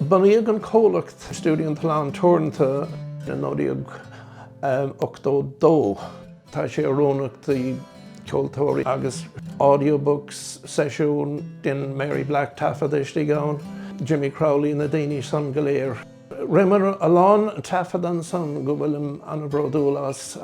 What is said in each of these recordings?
Bunaíodh an comhlacht Stiúideo an tSuláin Teoranta i 1982. Tá sé oiriúnach do cheoltóirí agus audiobooks, seisiúin, dhein Mary Black taifead istigh ann, Jimmy Crowley, na daoine san go léir. Rinneamar a lán taifeadta ansan go bhfuilim an-bhródúil as,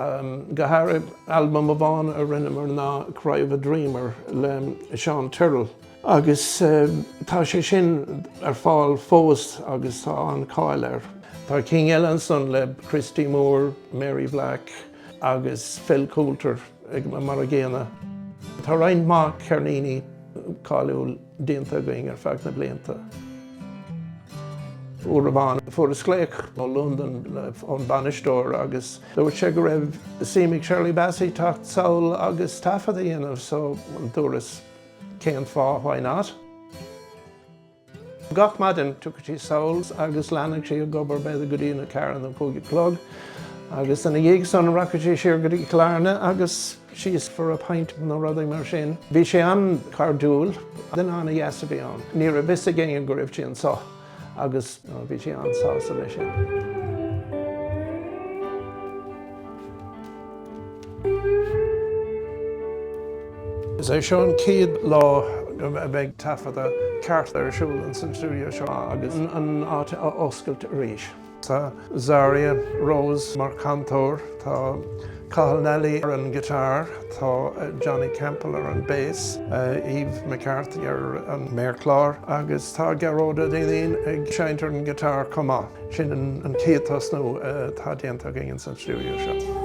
go háirithe albam amháin a rinneamar ná Cry of a Dreamer le Seán Tyrrell. Agus tá sé sin ar fáil fós agus tá an-cháil air. Tá cinn eile ansan le Christy Moore, Mary Black agus Phil Coulter mar an gcéanna. Tá roinnt mhaith ceirníní cáiliúil déanta againn ar feadh na blianta. Uair amháin fuaireas glaoch ó Londain ón bainisteoir agus dúirt sé go raibh suim ag Shirley Bassey teacht sall agus taifead a dhéanamh so dúras Cén fáth? Why not? Gach maidin, thiocfadh sí suas agus leanfadh sí ag obair b'fhéidir go dtí a ceathair nó cúig a chlog, agus ina dhiaidh san rachadh sí siar go dtí Cill Airne agus síos for a pint nó rudaí mar sin. Bhí sí an-chairdiúil, duine an-deas a bhí ann. Ní raibh a fhios ag éinne go raibh sí anso. agus bhí sí an-sásta leis sin. Is é seo an chéad lá a bheidh taifeadadh ceart ar siúl insan stiúideo seo agus an áit á oscailt arís. Tá Zarya Rose mar chantóir, tá Cathal Nally ar an guitar, tá Johnny Campbell ar an bass, Eve McCarthy ar an méarchlár agus tá Gearóid Ó Duinnín ag seinnt ar an guitar chomh maith. Sin an chéad tosnú atá déanta againn insan stiúideo seo.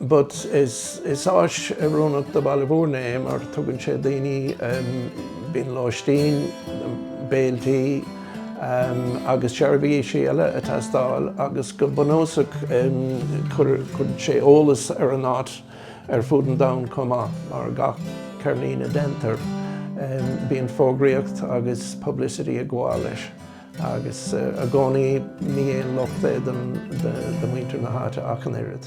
but is áis oiriúnach do Bhaile Mhúirne é mar tugann sé daoine bíonn lóistín, béiltí agus seirbhísí eile ag teastáil agus go bunúsach cuireann sé eolas ar an áit ar fud an domhain chomh maith mar gach ceirnín a deintear bíonn fógraíocht agus publicity ag gabháil leis. Agus i gcónaí ní haon locht é do mhuintir na háite ach an oiread.